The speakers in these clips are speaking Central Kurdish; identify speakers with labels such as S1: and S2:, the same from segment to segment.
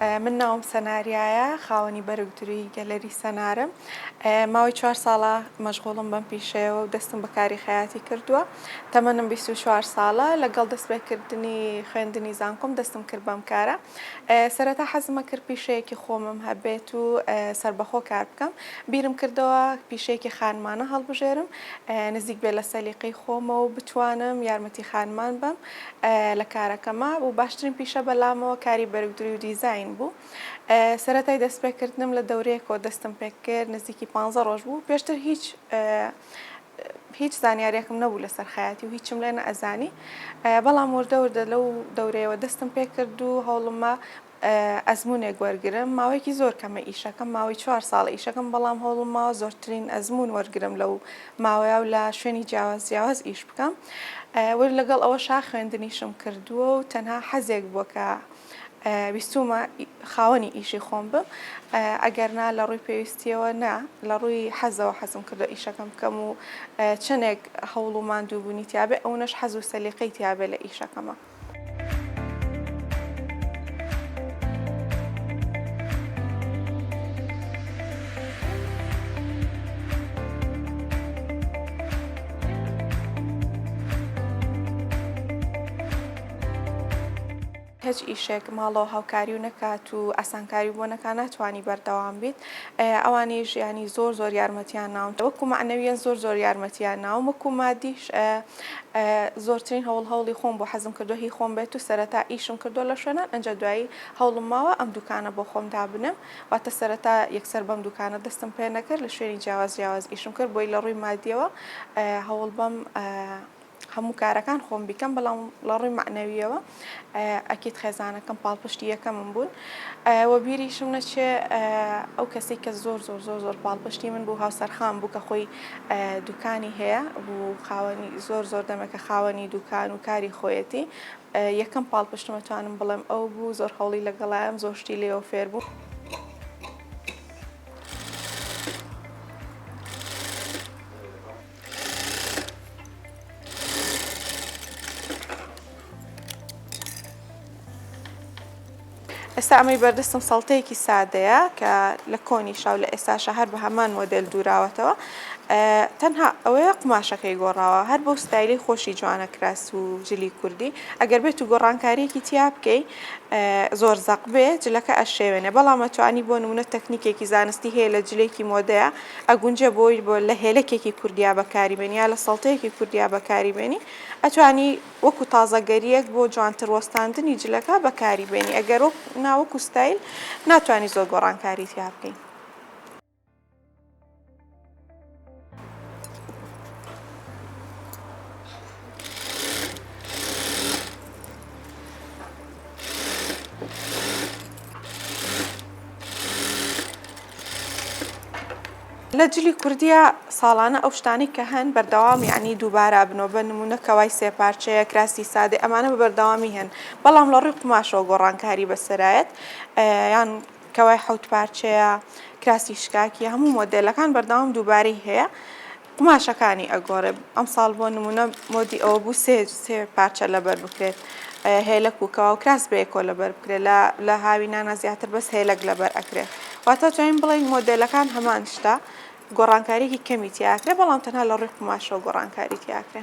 S1: من ناوم سەناریایە خاوەنی بەرگ دروی گەلەری سەنارم ماوەی چوار ساڵە مەشغوڵم بەم پیشەیەوە و دەستم بەکاری خەیاتی کردووە تەمەنم 24 ساڵە لەگەڵ دەستپێکردنی خوێندنی زانکۆم دەستم کرد بەم کارە سەرەتا حەزمە کرد پیشەیەکی خۆمم هەبێت و سربەخۆ کار بکەم بیرم کردەوە پیشەیەکی خانمانە هەڵبژێرم نزیک بێ لە سەلیقەی خۆمە و بتوانم یارمەتی خانمان بم لە کارەکەما و باشترین پیشە بەلامەوە کاری بەرگدروی و دیزاین بوو سەرەتای دەستپێکردنم لە دەورەیەکەوە دەستم پێکرد نزیکی پ ڕۆژ بوو پێشتر هیچ هیچ زانیارێکم نەبوو لە سەرخایەتی و هیچم لێنە ئەزانی بەڵام وردەوردە لەو دەورەیەوە دەستم پێکرد و هەوڵمە ئەزموونێک وەرگرم، ماوەیەکی زۆر کەمە ئیشەکەم ماوەی چوار ساڵە ئیشەکەم بەڵام هەوڵم ماوە زۆرترین ئەزموون وەرگرم لەو ماوەیە و لە شوێنی جیاواز جیاواز ئیش بکەم وەر لەگەڵ ئەوەشا خوێندنیشم کردووە و تەنها حەزێک بووە کە ویستومە خاوەنی ئیشی خۆم بم ئەگەر نا لە ڕووی پێویستیەوە نا لە ڕووی حەزەوە حەزم کردو ئیشەکەم بکەم و چەندێک هەوڵ و ماندووبوونی تیاابێ ئەوەش حەز و سەلیقەی تیاابێ لە ئیشەکەمە. هیچ ئیشێک ماڵەوە هاوکاری و نەکات و ئاسانکاری بۆ نەکە ناتوانانی بەردەوام بیت ئەوانی ژیانی زۆر زۆر یارمەتیان ناون وەکو معنەویان زۆر زۆر یارمەتیان ناوم وەکو مادیش زۆرترین هەوڵ هەوڵی خۆم بوو حەزم کردووە هی خۆم بێت و سەرەتا ئیشم کردووە لە شوێنان ئەنجا دوایی هەوڵم ماوە ئەم دوکانە بۆ خۆم دابنێم واتە سەرەتا یەکسەر بەم دوکانە دەستم پێ نەکرد لە شوێنی جیاواز جیاواز ئیشم کرد بۆی لە ڕووی مادیەوە هەوڵ بەم هەموو کارەکان خۆم بیکەم بەڵام لە ڕووی مەعنەویەوە ئەکید خێزانەکەم پاڵپشتی یەکەمم بوون وە بیریشم نەچێ ئەو کەسی کە زۆر زۆر زۆر زۆر پاڵپشتی من بوو هاوسەرخان بوو کە خۆی دوکانی هەیە بوو خاوەنی زۆر زۆر دەمەکە خاوەنی دوکان و کاری خۆیەتی یەکەم پاڵپشتمەتوانم بڵێم ئەو بوو زۆر هەوڵی لەگەڵایەن زۆشتی لێەوە فێر بوو. ئێستا ئەمەی بەردەستم سەڵتەیەکی سادەیە کە لە کۆنی شاو لە ئێستاشە هەر بە هەمان مۆدل دووراوەتەوە تەنها ئەوەیە قماشەکەی گۆڕاوە هەر بۆ ستایلی خۆشی جوانە کراس و جلی کوردی ئەگەر بێت و گۆڕانکاریەکی تیا بکەی زۆر زەق بێ جلەکە ئەشێوێنێ بەڵام ئەتوانی بۆ نمونە تەکنیکێکی زانستی هەیە لە جلێکی مۆدەیە ئەگونجێ بۆ بۆ لە هێلەکێکی کوردیا بەکاری بێنی یا لە سەڵتەیەکی کوردیا بەکاری بێنی ئەتوانی وەکو تازەگەریەک بۆ جوانتر وەستاندنی جلەکە بەکاری بێنی ئەگەر وەک ناوەکو ستایل ناتوانانی زۆر گۆڕانکاری تیا بکەین لە جلی کوردیا ساڵانە ئەو شتانەی کە هەن بەردەوام یعنی دووبارە ئەبنەوە بە نموونە کەوای سێ پارچەیە کراسی سادەی ئەمانە بە بەردەوامی هەن بەڵام لە ڕووی قوماشەوە گۆڕانکاری بەسەرایەت یان کەوای حەوت پارچەیە کراسی شکاکیە هەموو مۆدێلەکان بەردەوام دووبارەی هەیە. قوماشەکانی ئەگۆڕێ ئەمساڵ بۆ نموونە مۆدی ئەوە بوو سێ سێ پارچە لەبەر بکرێت هێلەک و کەواو کراس بە یەکۆ لەبەر بکرێت لە لە هاوینانە زیاتر بەس هێلەک لەبەر ئەکرێ واتە توانین بڵێین مۆدێلەکان هەمان شتە گۆڕانکاریی کەمی تیاکرێ بەڵام تەنها لە ڕووی قوماشەوە گۆڕانکاری تیاکرێ.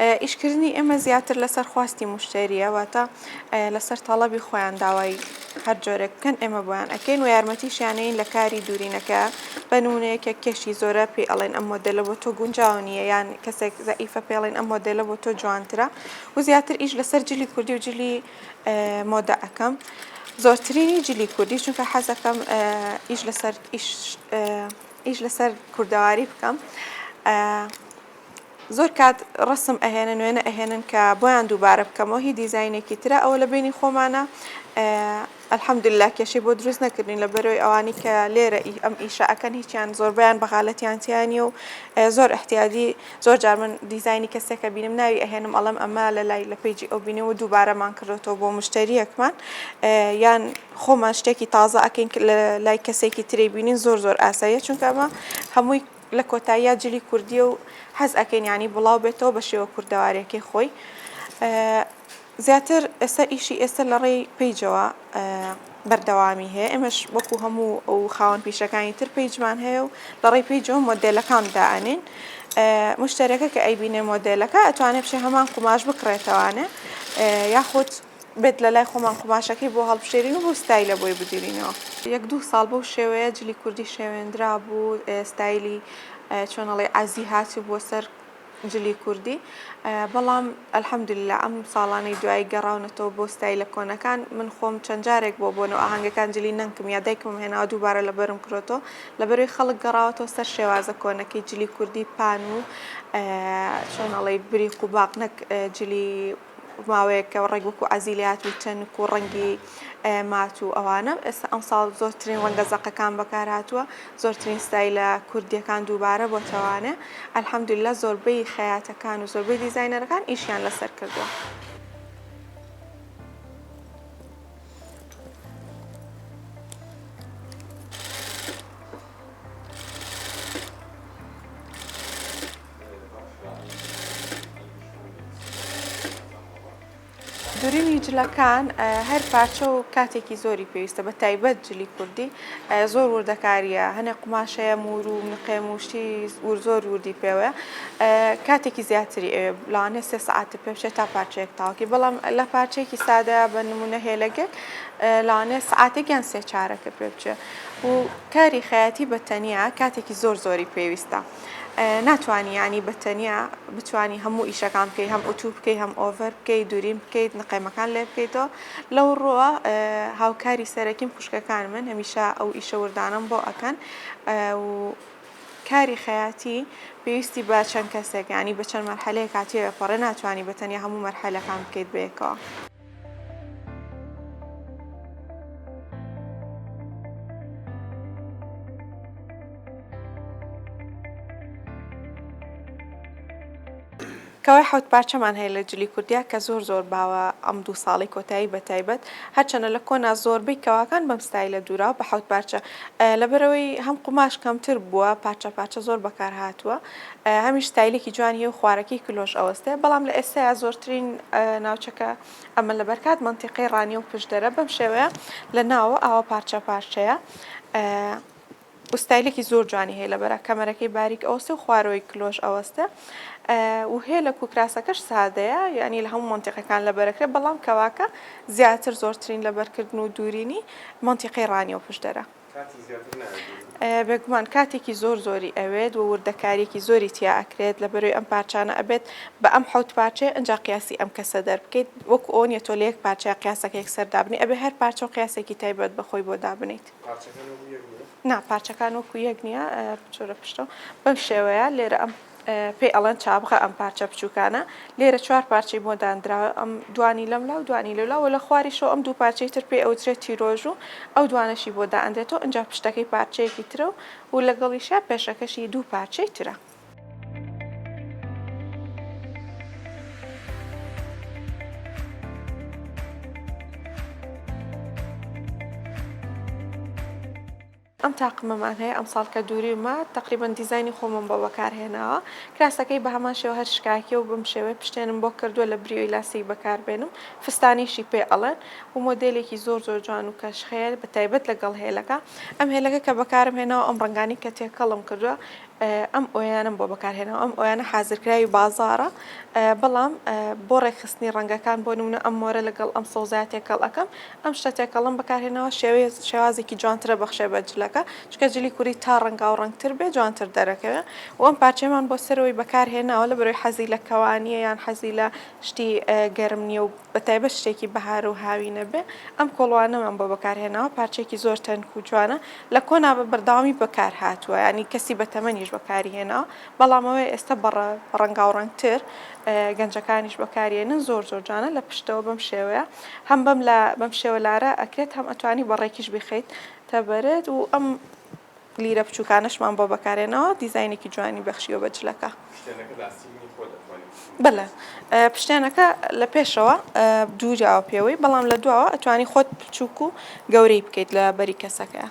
S1: ئیشکردنی ئێمە زیاتر لەسەر خواستی موشتەرییە، واتە لەسەر تەڵەبی خۆیان داوای هەر جۆرێک بکەن ئێمە بۆیان ئەکەین و یارمەتیشیانەین لە کاری دوورینەکە، بە نموونە یەکێک کێشی زۆرە پێی ئەڵێن ئەم مۆدێلە بۆ تۆ گونجاو نییە یان کەسێک زەعیفە پێی ئەڵێن ئەم مۆدێلە بۆ تۆ جوانترە و زیاتر ئیش لەسەر جلی کوردی و جلی مۆدە ئەکەم زۆرترینی جلی کوردی چونکە حەزەکەم ئیش لەسەر ئیش لەسەر کوردەواری بکەم. زۆر کات ڕەسم ئەهێنن وێنە ئەهێنن کە بۆیان دووبارە بکەمەوە هی دیزاینێکی ترە ئەوە لە بینی خۆمانە الحمدللە کێشەی بۆ دروست نەکردین لە بەرەوەی ئەوانی کە لێرە ئی ئەم ئیشە ئەکەن هیچیان زۆربیان بەغالەتیان تیانە و زۆر احتیادی زۆر جار من دیزاینی کەسێکە بینم ناوی ئەهێنم ئەڵم ئەمە لە لای لە پیجی ئەو بینێ و دووبارەمان کردێتەوە بۆ مشتریەکمان یان خۆمان شتێکی تازە ئەکەین لە لای کەسێکی تری بینین زۆر زۆر ئاساییە چونکە ئەمە هەمووی لە کۆتاییا جلی کوردیە و حەز ئەکەین یانی بڵاو بێتەوە بە شێوە کوردەوارەکەی خۆی زیاتر ئێستا ئیشی ئێستا لە ڕێی پیجەوە بەردەوامی هەیە ئێمەش وەکو هەموو ئەو خاوەن پیشەکانی تر پیجمان هەیە و لە ڕێی پیجەوە مۆدلەکان دائەنین مشتەرەکە کە ئەیبینێ مۆدلەکە ئەتوانێت بشێ هەمان قوماش بکڕێتەوانە یاخود بێت لە لای خۆمان قوماشەکەی بۆ هەڵبژێرین و بەو ستایلە بۆی بگیرینەوە. یەک دوو ساڵ بەو شێوەیە جلی کوردی شێوێندرابوو، ستایلی چۆن ئەڵێی عەزی هاتبووە سەر جلی کوردی، بەڵام الحمدللە ئەم ساڵانەی دوایی گەڕاونەتەوە بۆ ستایلە کۆنەکان، من خۆم چەند جارێک بۆ بۆنە و ئاهەنگەکان جلی نەنکم یا دایکمم هێناوە دووبارە لەبەرم کرۆتەوە، لەبەروی خەڵک گەڕاوەتەوە سەر شێوازە کۆنەکەی جلی کوردی پان و چۆن ئەڵێی بریق و باق نەک جلی. ماوەیەک ڕەنگ وەکو ئازیلیات و چەنک و ڕەنگی مات و ئەوانە ئێستا ئەمساڵ زۆرترین ڕەنگە زەقەکان بەکارهاتووە زۆرترین ستایلە کوردیەکان دووبارە بۆ تەوانێ ئەلحەمدللا زۆربەی خەیاتەکان و زۆربەی دیزینەرەکان ئیشیان لەسەر کردووە. دورینی جلەکان هەر پارچە و کاتێکی زۆری پێویستە بە تایبەت جلی کوردی زۆر وردەکاریە هەنێ قوماشەیە مور و نقێ موشتی ور زۆر وردی پێوەە کاتێکی زیاتری لاانێ سێ ساعتی پێشێ تا پارچەیەک تاوکی بەڵام لە پارچێکی سادە بە نمونە هێلەگەک لاانێ ساعتێکیان سێ چارەکە پێ بچێ و کاری خەیاتی بەتەنیا کاتێکی زۆر زۆری پێویستە. ناتوانی یانی بە تەنیا بتوانی هەموو ئیشەکان بکەی هەم ئوتوو بکەی هەم ئۆڤەر بکەی دووریم بکەیت نقێمەکان لێ بکەیتەوە لەو ڕۆوە هاوکاری سەرەکیم خوشکەکان من هەمیشە ئەو ئیشە وردانم بۆ ئەکەن و کاری خەیاتی پێویستی بە چەند کەسێک ینی بە چەند مەرحەلەیە کاتیەوە پەڕێ ناتوانانی بەتەنیا هەموو مەرحەلەکان بکەیت بەیەکەوە. کەوای حەوت پارچەمان هەیە لە جلی کوردیا کە زۆر زۆر باوە ئەم دوو ساڵی کۆتایی بە تایبەت هەرچەنە لە کۆنا زۆربەی کەواکان بەم ستایلە دوورا بە حەوت پارچە لەبەرەوەی هەم قوماش کەمتر بووە پارچە پارچە زۆر بەکار هاتووە هەمیش ستایلێکی جوانی هەیە و خوارەکەی کلۆش ئەوەستێ بەڵام لە ئێستایا زۆرترین ناوچەکە ئەمە لە بەرکات مەنتیقەی ڕانیە و پشدەرە بەم شێوەیە لە ناوە ئاوە پارچە پارچەیە وستایلێکی زۆر جوانی هەیە لە بەرە کەمەرەکەی باریک ئەوسێ و خوارەوەی کلۆش ئەوەستە و هەیە لە کوکراسەکەش سادەیە یعنی لە هەموو منتیقەکان لە بەرەکرێ بەڵام کەواکە زیاتر زۆرترین لە بەرکردن و دوورینی منتیقی ڕانیە و پشدەرە بێگومان کاتێکی زۆر زۆری ئەوێت و وردەکاریەکی زۆری تیا ئەکرێت لە بەرەی ئەم پارچانە ئەبێت بە ئەم حەوت پارچەیە ئەجا قیاسی ئەم کەسە دەربکەیت وەکو ئەوە نیە تۆ لە یەک پارچەیە قیاسەکە یەکسەر دابنی ئەبێ هەر پارچە و قیاسێکی تایبەت بە خۆی بۆ دابنیت نا پارچەکان وەکو یەک نیە بچۆرە پشتەوە بەم شێوەیە لێرە ئەم پێی ئەڵێن چابغە ئەم پارچە بچووکانە، لێرە چوار پارچەی بۆ داندراوە، ئەم دوانی لەم لا و دوانی لەو لا و لە خواریشەوە ئەم دوو پارچەی تر پێی ئەوترێت تیرۆژو ئەو دوانەشی بۆ دائەندرێتەوە، ئنجا پشتەکەی پارچەیەکی ترە و لەگەڵیشیا پێشەکەشی دوو پارچەی ترە. ئەم تاقمەمان هەیە ئەمساڵ کە دوریومە تەقریبەن دیزاینی خۆمم بۆ بەکار هێناوە کراسەکەی بە هەمان شێوە هەر شکاکیە و بەم شێوەیە پشتێنم بۆ کردوە لە بریۆی لاستیک بەکار بێنم فستانیشی پێ ئەڵێن و مۆدێلێکی زۆر زۆر جوان و کەش خەیە بە تایبەت لەگەڵ هێلەکە ئەم هێلەکە کە بەکارم هێناوە ئەم ڕەنگانەی کە تێکەڵم کردوە ئەم ئۆیانەم بۆ بەکارهێناوە، ئەم ئۆیانە حازرکراوی بازاڕە بەڵام بۆ ڕێکخستنی ڕەنگەکان بۆ نمونە ئەم مۆرە لەگەڵ ئەم سەوزایە تێکەڵ ئەکەم ئەم شتە تێکەڵەم بەکارهێناوە شێوەیە شێوازێکی جوانترە بەخشێ بە جلەکە چکە جلی کوری تا ڕەنگاو ڕەنگتر بێ جوانتر دەرەکەوێ و ئەم پارچەمان بۆ سەرەوەی بەکارهێناوە لەبەرەوەی حەزی لە کەوانیە یان حەزی لە شتی گەرم نیە و بە تایبەت شتێکی بەهار و هاوینە بێ، ئەم کۆڵوانەمان بۆ بەکار هێناوە، پارچەیەکی زۆر تەنک و جوانە، لە کۆنا بە بەردەوامی بەکار هاتووە، یانی کەسی بە تەمەنیش بەکاری هێناوە، بەڵام ئەوەی ئێستا بە ڕەنگاوڕەنگ تر گەنجەکانیش بەکاری ئەینن زۆر زۆر جوانە، لە پشتەوە بەم شێوەیە هەم بەم لا بەم شێوە لارا ئەکرێت هەم ئەتوانی بە ڕێکیش بیخەیتە بەرت و ئەم لیرە بچوکانەشمان بۆ بەکارێناوە دیزاینێکی جوانی بەخشیوە بە جلەکە. پشتێنەکە لە ئاستیکی خۆی دەتوانین بچوک بکەین. بەلێ پشتێنەکە لە پێشەوە دووراوە پێوەی بەڵام لە دواوە ئەتوانی خۆت بچوک و گەورەی بکەیت لە بەری کەسەکە.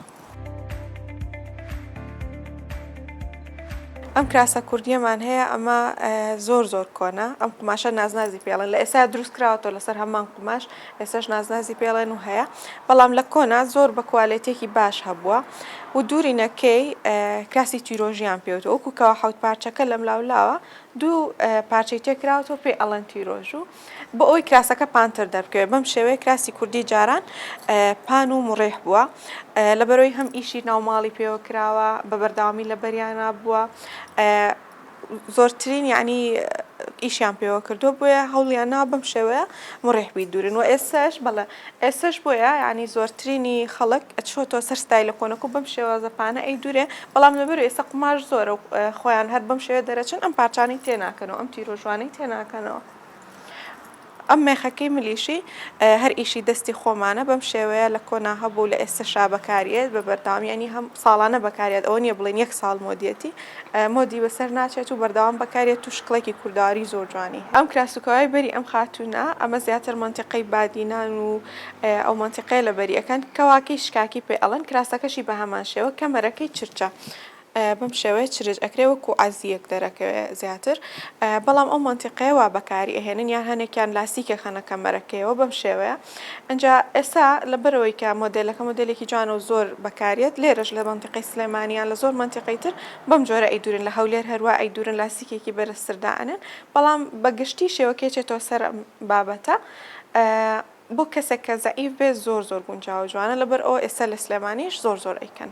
S1: ئەم کراسە کوردیەمان هەیە ئەمە زۆر زۆر کۆنە ئەم قوماشە نازنازی پێڵێن لە ئێستا دروست کراوەتەوە لەسەر هەمان قوماش ئێستاش نازنازی پێڵێن و هەیە بەڵام لە کۆنا زۆر بە کوالێتێکی باش هەبووە و دوورینەکەی کراسی تیرۆژیان پێوتە وەکو کەوا حوت پارچەکە لەم لاولاوە دوو پارچەی تێکراوەوە پێ ئەڵەن تیرۆژ و بۆ ئەوی کراسەکە پانتر دەبکەوێت بەم شێوەیە کراسی کوردی جاران پان و مڕێح بووە لەبەرەوەی هەم ئیشی ناوماڵی پێوە کراوە بە بەرداوامی لە بەریانە بووە زۆرترین یانی ئیشیان پێوە کردووە بۆیە هەوڵیان ناوە بەم شێوەیە مڕێح بی دوورن و ئێسش بەڵێ ئێسش بۆیە ینی زۆرترینی خەڵک ئەچۆتۆ سەر ستای لە کۆنک و بەم شێوازەپانە ئەی دوورێ بەڵام لەبەر ئێستا قوماش زۆرە و خۆیان هەر بەم شێوە دەرەچن ئەم پارچانەی تێناکەنەوە ئەم تیرۆژوانەی تێناکەنەوە. ئەم مێخەکەی ملیشی هەر ئیشی دەستی خۆمانە بەم شێوەیە لە کۆنا هەبوو لە ئێستەشا بەکاریێت بە بەردەوام یانی هەم ساڵانە بەکاریێت ئەوە نیە بڵێن یەک ساڵ مۆدیەتی مۆدی بەسەر ناچێت و بەردەوام بەکاریێت و شکڵێکی کورداوی زۆر جوانی هەیە ئەم کراسوکەوای بەری ئەم خاتوونە ئەمە زیاتر مەنتیقەی بادینان و ئەو مەنتیقەیە لە بەری ئەکەن کەواکەی شکاکی پێ ئەڵێن کراسەکەشی بە هەمان شێوە کەمەرەکەی چرچە بەم شێوەیە چرچ ئەکرێ وەکو عەزییەک دەرەکەوێ زیاتر بەڵام ئەو مەنتیقەیە وا بەکاری ئەهێنن یان هەنێکیان لاستیک ئەخەنە کەمەرەکەیەوە بەم شێوەیە ئینجا ئێستا لەبەرئەوەی کە مۆدێلەکە مۆدێلێکی جوانە و زۆر بەکاریەت لێرەش لە مەنتیقەی سلێمانی یان لە زۆر مەنتیقەی تر بەم جۆرە ئەیدورن لە هەولێر هەروا ئەیدورن لاستیکێکی بەرزتر دائەنێن بەڵام بە گشتی شێوەکەی چێتەوە سەر ئەم بابەتە بۆ کەسێک کە زەعیف بێت زۆر زۆر گونجاوە جوانە لەبەرئەوە ئێستا لە سلێمانیش زۆر زۆر ئەیکەن.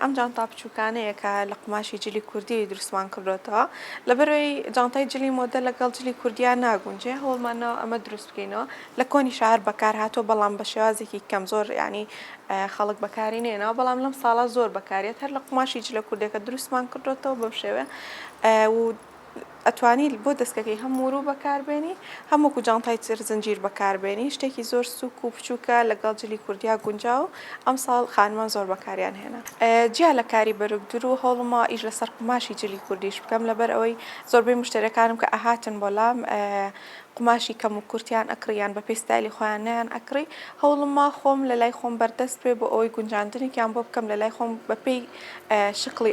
S1: ئەم جانتا بچووکانەیە کە لە قوماشی جلی کوردی دروستمان کردوێتەوە لەبەرەوەی جانتای جلی مۆدە لەگەڵ جلی کوردیا ناگونجێ هەوڵمانەوە ئەمە دروست بکەینەوە لە کۆنی شار بەکار هاتووە بەڵام بە شێوازێکی کەم زۆر ینی خەڵک بەکاری نێنەوە بەڵام لەم ساڵا زۆر بەکارێت هەر لە قوماشی جلە کوردەکە دروستمان کردوێتەوە بەم شێوێ و ئەتوانی بۆ دەسکەکەی هەم وروو بەکاربێنی هەم وەکو جانتای تر زنجیر بەکاربێنی شتێکی زۆر سوک و بچووکە لەگەڵ جلی کوردیا گونجاو ئەمساڵ خانمان زۆر بەکاریان هێنا جیا لە کاری بەرگدور و هەوڵما ئیش لەسەر قوماشی جلی کوردیش بکەم لەبەر ئەوەی زۆربەی مشتەرەکانم کە ئەهاتن بۆ لام قوماشی کەم و کورتیان ئەکڕی یان بە پێی ستایلی خۆیان نیان ئەکڕی هەوڵما خۆم لە لای خۆم بەردەست بێ بۆ ئەوەی گونجاندنێکیان بۆ بکەم لە لای خۆم بە پێی شکڵی